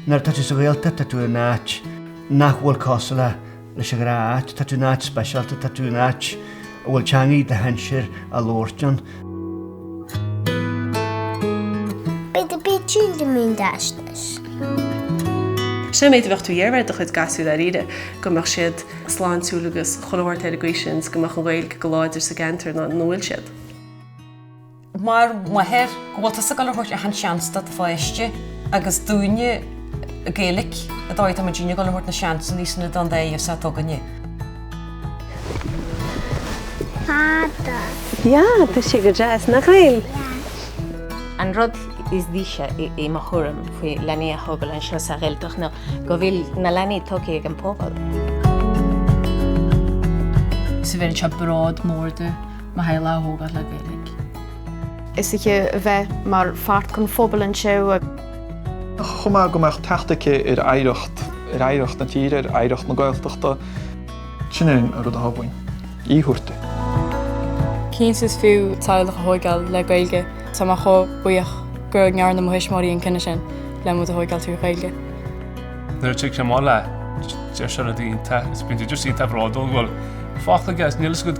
Nuair atá tú sa Ghaeltacht tá tú in áit nach bhfuil cosúil le leis an ghnáth-áit. Tá tú in áit speisialta, tá tú in áit a bhfuil teangaidh do shinsir á labhairt ann. Beidh do bith tíre mín deisneis. Sé an méid a bheadh tú ag iarraidh ar do chuid gasúir dáiríre, go mbeadh siad sláintiúil agus chun a thabhairt ar an gcaoi sin is go mbeadh an Ghaeilge go láidir sa gceantar ina bhfuil siad. Mar mháthair go bhfuil tusa ag dul a thabhairt achan seans do do pháiste agus i dtaobh na Gaeilice de tá muidinne ag dul a thabhairt na seansannaí sin don dís atá againne. Fada. Yeah, tá sé go deas, nach bhfuil? An rud is dise i mo thuairim faoi leanaí a thógáil anseo sa Ghaeltacht ná go bhfuil na leanaí tógtha ag an bpobal. Is ábhar anseo bród mór dom. Michaela a thógáil le Gaeilge. is aici a bheith mar pháirt den phobal anseo. chomh maith go mbeadh teacht aici ar oidhreacht, ar oidhreacht na tíre, ar oidhreacht na Gaeltachta. Sin é an rud atá uaim a thabhairt di. Cinnte is fiú teaghlach a thóigeáil le Gaeilge. Tá mé chomh buíoch gur ndearna mo thuismitheoirí an cinneadh sin le muid a thóigeáil trí Ghaeilge. Nuair a thig sé mall leat deir sé rudaí iontach agus bíonn tú just iontach bródúil go bhfuil fágtha aige agus níl fhios agat